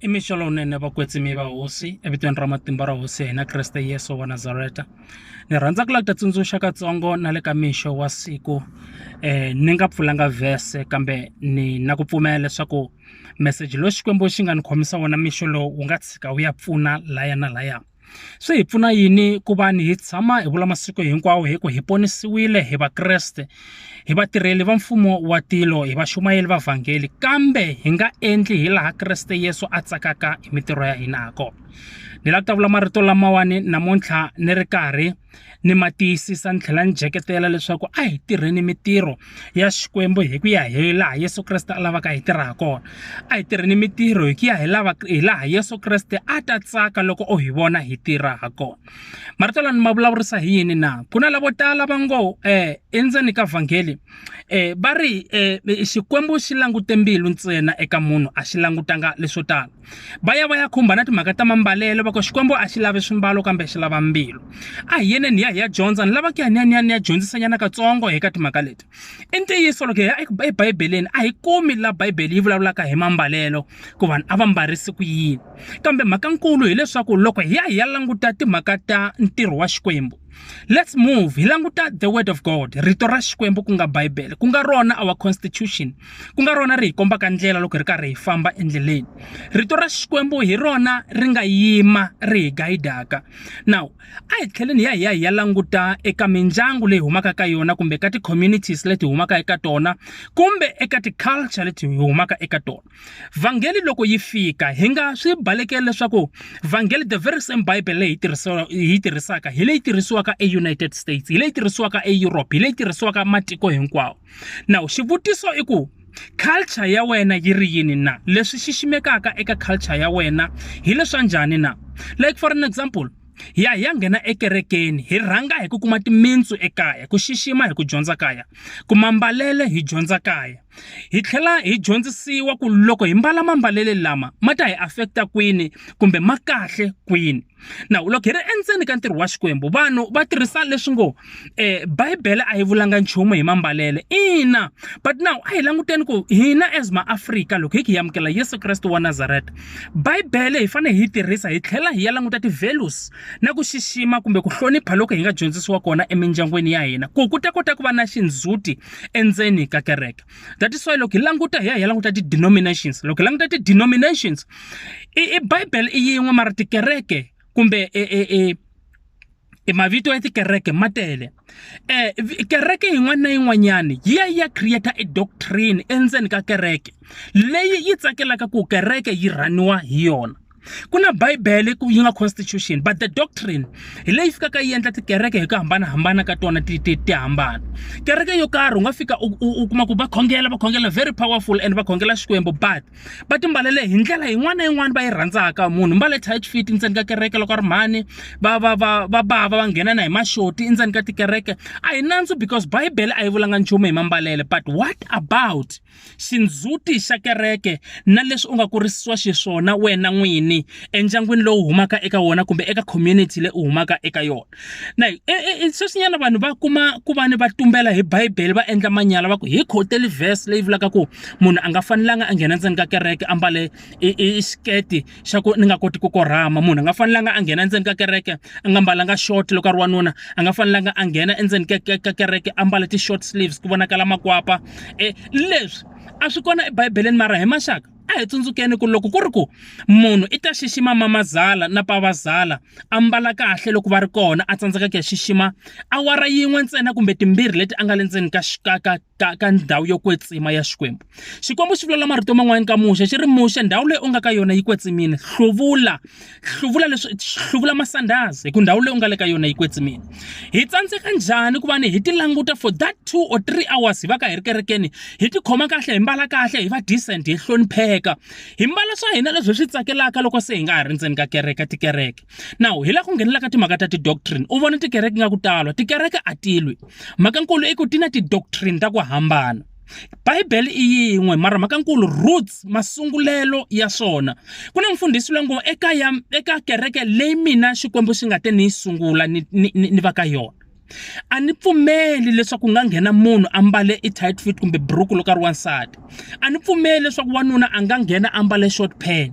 i mixo lowunene vakwetsimi va hosi evitweni ra matimba ra hosi ya hina kreste yesu wa nazareta ni rhandza ku lava ku ta tsundzuxa katsongo na le ka mixo wa siku um ni nga pfulanga vhese kambe ni na ku pfumela leswaku meseji lowu xikwembu xi nga ni khomisa wona mixo lowu wu nga tshika wu ya pfuna laya na laya Swi hi pfuna yini ku va ni hi tshama hi vula masiku hinkwawo hi ku hi ponisiwile hi Vakreste hi vatirheli va mfumo wa tilo hi vaxumayeli va vhangeli kambe hi nga endli hi laha Kreste Yesu a tsakaka hi mitirho ya hina ha kona ni lava ku ta vula marito lamawani namuntlha ni ri karhi Ni ma tiyisisa ni tlhela ni dyeketela leswaku a hi tirheni mintirho ya Xikwembu hi ku ya hi laha Yesu Kreste a lavaka hi tirha ha kona. A hi tirheni mintirho hi ku ya hi lava hi laha Yesu Kreste a ta tsaka loko o hi vona hi tirha ha kona. Marito lama ni ma vulavurisa hi yini na? Ku na lavo tala va ngo um endzeni ka vhangeli um va ri um Xikwembu xi langute mbilu ntsena eka munhu a xi langutanga leswo tala. va ya va ya khumba na timhaka ta mambalelo va ku xikwembu a xi lavi swimbalo kambe xi lava mbilu a hi yeneni hi ya hi ya dyondza ni lava ku ya ni ya ni ya ni ya dyondzisanyana katsongo hi ka timhaka leti i ntiyiso loko hi ya ebibeleni a hi kumi laha bibele yi vulavulaka hi mambalelo ku vanhu a va mbarisi ku yini kambe mhaka nkulu hileswaku loko hi ya hi ya languta timhaka ta ntirho wa xikwembu Let's move. Hi languta the word of God, rito ra Xikwembu ku nga Bible, ku nga rona our constitution. Ku nga rona ri hi kombaka ndlela loko ri karhi hi famba endleleni. Rito ra Xikwembu hi rona ri nga yima ri hi guidaka. Now, a hi tlheleni ya hi ya hi ya languta eka mindyangu leyi humaka ka yona kumbe ka ti-communities leti humaka eka tona kumbe eka ti-culture leti hi humaka eka tona. vhangeli loko yi fika hi nga swi balekeli leswaku vhangeli the very same bible leyi hi tirhisaka hi leyi tirhisiwaka eunited states hi leyi tirhisiwaka eeurope hi leyi tirhisiwaka matiko hinkwawo now xivutiso i ku culture ya wena yi ri yini na leswi xiximekaka eka culture ya wena hi leswa njhani na like for an example ya ya nghena ekerekeni hi rhanga hi ku kuma timintsu ekaya ku xixima hi ku dyondza kaya ku mambalele hi dyondza kaya Hi tlhela hi dyondzisiwa ku loko hi mbala mambalele lama ma ta hi afekta kwini kumbe ma kahle kwini. Na loko hi ri endzeni ka ntirho wa Xikwembu vanhu va tirhisa leswi ngo eh, Bibele a yi vulanga nchumu hi mambalele. Ina, but now a hi languteni ku hina as maAfrika loko hi ki hi amukela Yesu Kreste wa Nazareta, Bibele hi fanele hi yi tirhisa hi tlhela hi ya languta ti-values na ku xixima kumbe ku hlonipha loko hi nga dyondzisiwa kona emindyangwini ya hina ku ku ta kota ku va na xindzhuti endzeni ka kereke that is why loko hi languta hi ya hi ya languta ti-denominations loko hi languta ti-denominations i, i bible i yin'we mara tikereke kumbe e, e, e, e mavito ya tikereke ma tele eh kereke yin'wana na yin'wanyani yi ya yi ya create e doctrine endzeni ka kereke leyi yi tsakelaka ku kereke yi rhaniwa hi yona ku na bibele ku yi nga constitution but the doctrine hi leyi fikaka yi endla tikereke hi ku hambanahambana ka tona ti ti ti hambana kereke yo karhi u nga fika u- u u kuma ku va khongela va khongela very powerful and va khongela xikwembu but va timbalele hi ndlela yin'wana na yin'wana va yi rhandzaka munhu mbale tight fit ndzeni ka kereke loko a ri mhani va va va va bava va nghena na hi maxoti endzeni ka tikereke a hi nandzu because bibele a yi vulanga nchumu hi mambalele but what about xindzhuti xa kereke na leswi u nga kurisiwa xiswona wena n'wini endyangwini lowu humaka eka wona kumbe eka community leyi u humaka eka yona na e, e, e, sweswinyana vanhu va kuma ku va ni va tumbela hi bibele va endla manyala va ku hi khoteli verse leyi vulaka ku munhu a nga fanelanga a nghena ndzeni ka kereke a mbale xiketi xa ku ni nga koti ku korhama munhu a nga fanelanga a nghena endzeni ka kereke a nga mbalanga short loko a ri wanuna a nga fanelanga a nghena endzeni ka kereke a mbala ti-short sleeves ku vonakala makwapa um leswi a swi kona ebibeleni mara hi maxaka a hi tsundzukeni ku loko ku ri ku munhu i ta xixima mamazala na pavazala a mbala kahle loko va ri kona a tsandzeka ku ya xixima awara yin'we ntsena kumbe timbirhi leti a nga le ndzeni ka ka ka ka, ka ndhawu yo kwetsima ya xikwembu xikwembu xi vulela marito man'wana ka muxe xi ri muxe ndhawu leyi u nga ka yona yi kwetsimile hluvula hluvula leswi hluvula masandhazi hi ku ndhawu leyi u nga le ka yona yi kwetsimile hi tsandzeka njhani ku va ni hi ti languta for that two or three hours hi va ka hi ri kerekeni hi ti khoma kahle hi mbala kahle hi va decent hi hlonipheka hi mbala swa hina leswi hi swi tsakelaka loko se hi nga ha ri ndzeni ka kereke tikereke Now, hi la ku nghenela ka timhaka ta ti-doctrine. U vona tikereke nga ku talwa. Tikereke a ti lwi. Mhakankulu i ku ti na ti-doctrine ta ku hambana. Bibele i yin'we mara mhakankulu roots masungulelo ya swona. Ku na mfundhisi loyi ngo eka ya eka kereke leyi mina Xikwembu xi nga te ni yi sungula ni ni ni va ka yona. a ni pfumeli leswaku ku nga nghena munhu a mbale i tight fit kumbe buruku loko a ri wansati a ni pfumeli leswaku wanuna a nga nghena a mbale short pant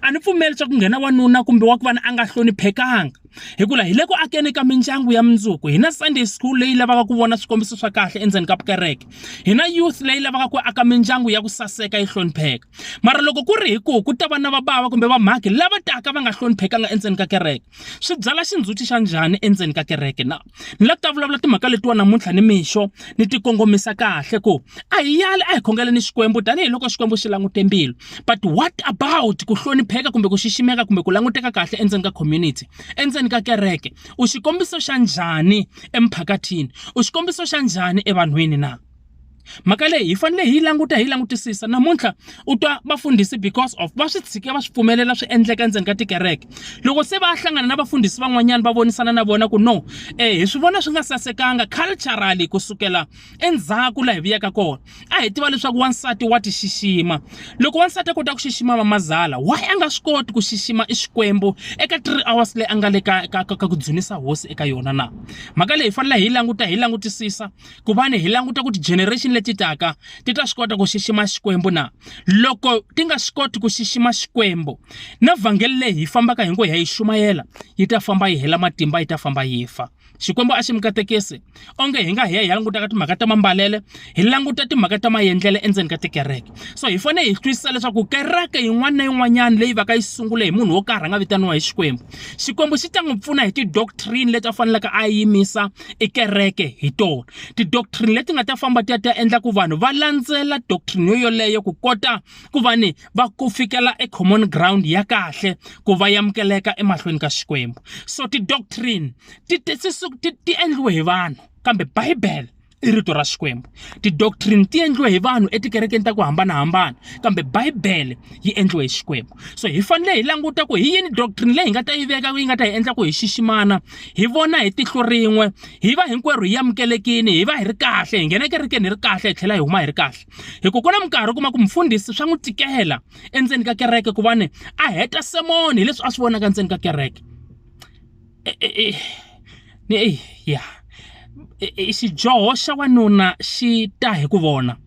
a ni pfumeli leswaku ku nghena wanuna kumbe wa ku vana a nga hloniphekanga hikuva hi le ku akeni ka mindyangu ya mundzuku hi na sunday school leyi lavaka ku vona swikombiso swa kahle endzeni ka vukereke hi na youth leyi lavaka ku aka mindyangu ya ku saseka yi hlonipheka mara loko ku ri hi ku ku ta va na vabava kumbe vamhakhi lava taka va nga hloniphekanga endzeni ka kereke swi byala xindzhuti xa njhani endzeni ka kereke na? Ni la ta vulavula timhaka letiwa namuntlha ni mixo ni ti kongomisa kahle ku a hi yali a hi khongela ni Xikwembu tanihiloko Xikwembu xi langute mbilu. But what about ku hlonipheka kumbe ku xiximeka kumbe ku languteka kahle endzeni ka community, endzeni ka kereke? U xikombiso xa njhani emphakathini? U xikombiso xa njhani evanhwini na? mhaka leyi hi fanele hi yi languta hi yi langutisisa namuntlha u twa vafundhisi because of va swi tshike va swi pfumelela swi endleka endzeni ka tikereke loko se va hlangana na vafundhisi van'wanyana va vonisana na vona ku no eh hi swi vona swi nga sasekanga culturally ku sukela endzhaku laha hi vuyaka kona a hi tiva leswaku wansati wa ti xixima loko wansati a kota ku xixima vamazala why a nga swi koti ku xixima i xikwembu eka three hours leyi a nga le ka ka ka ku dzunisa hosi eka yona na mhaka leyi hi fanele hi yi languta hi yi langutisisa ku va ni hi languta ku ti-generation leti taka ti ta swi kota ku xixima xikwembu na loko ti nga swi koti ku xixima xikwembu na vhangeli leyi hi fambaka hi ngo ya yi xumayela yi ta famba yi hela matimba yi ta famba yi fa xikwembu a xi mi katekisi onge hi nga hi ya hi ya langutaka timhaka ta mambalele hi languta timhaka ta mayendlele endzeni ka tikereke so hi fanele hi twisisa leswaku kereke yin'wana na yin'wanyana leyi va ka yi sungule hi munhu wo karhi a nga vitaniwa hi xikwembu xikwembu xi ta n'wi pfuna hi ti-doctrine leti a faneleke a yimisa i kereke hi tona tidoctrine leti nga ta famba ti ya ti ya endla ku vanhu va landzela doctrine yo yoleyo ku kota ku va ni va ku fikela e common ground ya kahle ku va yamukeleka emahlweni ka xikwembu so tidoctrine ti ti ti ti endliwe hi vanhu kambe bibele i rito ra xikwembu tidoctrine ti endliwe hi vanhu etikerekeni ta ku hambanahambana kambe bibele yi endliwe hi xikwembu so hi fanele hi languta ku hi yini doctrine leyi hi nga ta yi veka yi nga ta hi endla ku hi xiximana hi vona hi tihlo rin'we hi va hinkwerhu hi amukelekini hi va hi ri kahle hi nghena ekerekeni hi ri kahle hi tlhela hi huma hi ri kahle hi ku ku na minkarhi u kuma ku mufundhisi swa n'wi tikela endzeni ka kereke ku va ni a heta semoni hi leswi a swi vonaka ndzeni ka kereke e, e, e, ya xidyoho xa wanuna xi ta hi ku vona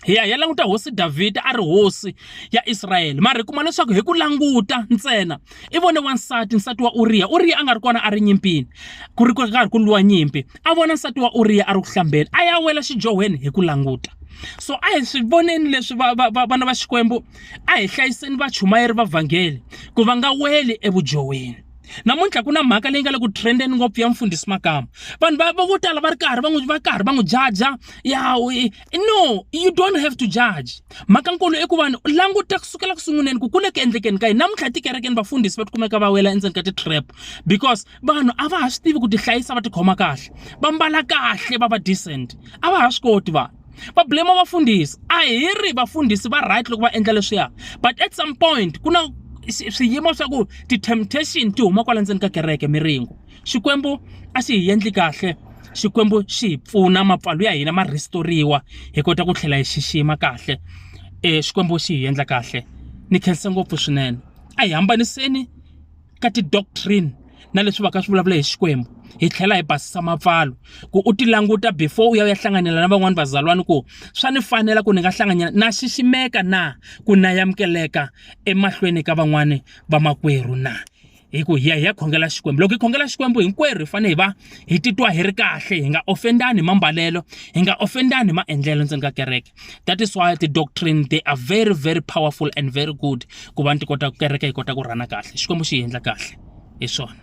hi ya hi ya languta hosi Davhida a ri hosi ya Israyele mara hi kuma leswaku hi ku languta ntsena i vone wansati nsati wa Uriya Uriya a nga ri kona a ri nyimpini ku ri karhi ku lwiwa nyimpi a vona nsati wa Uriya a ri ku hlambeni a ya wela xidyohweni hi ku languta so a hi swi voneni leswi vana va xikwembu a hi hlayiseni vachumayeri va vhangeli ku va nga weli evudyohweni namuntlha ku na mhaka leyi nga le ku trendeni ngopfu ya mfundhisi makama vanhu va vo tala va ri karhi va n'wi va karhi va n'wi jaja ya no you don't have to judge mhaka nkulu i ku vanhu languta kusukela kusunguleni ku kule ku endlekeni ka yini namuntlha tikerekeni vafundhisi va tikumeka va wela endzeni ka ti-trap because vanhu a va ha swi tivi ku tihlayisa va tikhoma kahle va mbala kahle va va decent a va ha swi koti vanhu va blame vafundhisi a hi ri vafundhisi va right loko va endla leswiya but at some point ku na swiyimo swa ku ti-temptation ti huma kwala ndzeni ka kereke miringo Xikwembu a xi hi endli kahle Xikwembu xi hi pfuna mapfalo ya hina ma rhistoriwa hi kota ku tlhela hi xixima kahle e Xikwembu xi hi endla kahle ni khensa ngopfu swinene a hi hambaniseni ka ti-doctrine na leswi va ka swi vulavula hi Xikwembu hi tlhela hi basisa mapfalo ku u ti languta before u ya u ya hlanganyela na van'wani vazalwani ku swa ni fanela ku ni nga hlanganyela na xiximeka na ku na yamukeleka emahlweni ka van'wani vamakwerhu na hi ku hi ya hi ya khongela xikwembu loko hi khongela xikwembu hinkwerhu hi fanele hi va hi titwa hi ri kahle hi nga ofendani hi mambalelo hi nga ofendani hi maendlelo ndzeni ka kereke that is why the doctrine they are very very powerful and very good ku va ni ti kota ku kereke hi kota ku rhana kahle xikwembu xi hi endla kahle hi swona